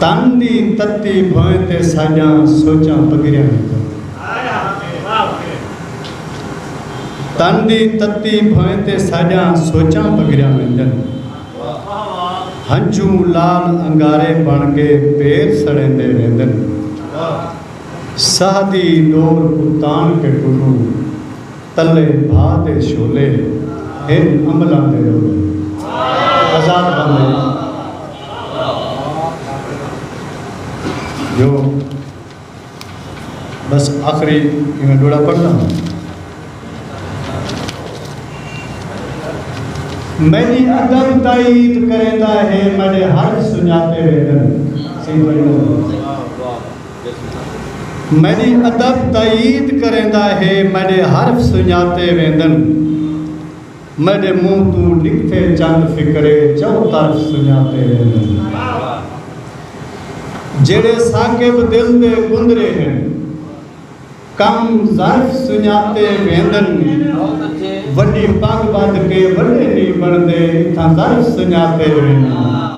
تن دی تتی بھویں تے ساݙیاں سوچاں پگھریاں ہیکن۔ تن دی تتی بھویں تے ساݙیاں سوچاں پگھریاں ویندن۔ ہنجھوں لال انگارے بݨ کے پیر سڑیندے ویندن۔ ساہ دی ݙور کوں تاݨ کے کلوں۔ تلے بھا تے شولے ہن املاں دے رولے آزاد بندے جو بس آخری میں ڈوڑا پڑھنا ہوں میری عدم تائید کرے دا ہے میرے ہر سنیاتے ویدن سیدھے میݙی ادب تائید کریندا ہے میݙے حرف سنڄاتے ویندن میݙے منہ توں نکھتے چند فقرے چؤ طرف سنڄاتے ویندن جیڑھے ثاقب دل دے گندرے ہن کم ظرف سنڄاتے ویندن وݙی پڳ ٻدھ کے وݙے نی بݨدے اتھاں ظرف سنڄاتے ویندن۔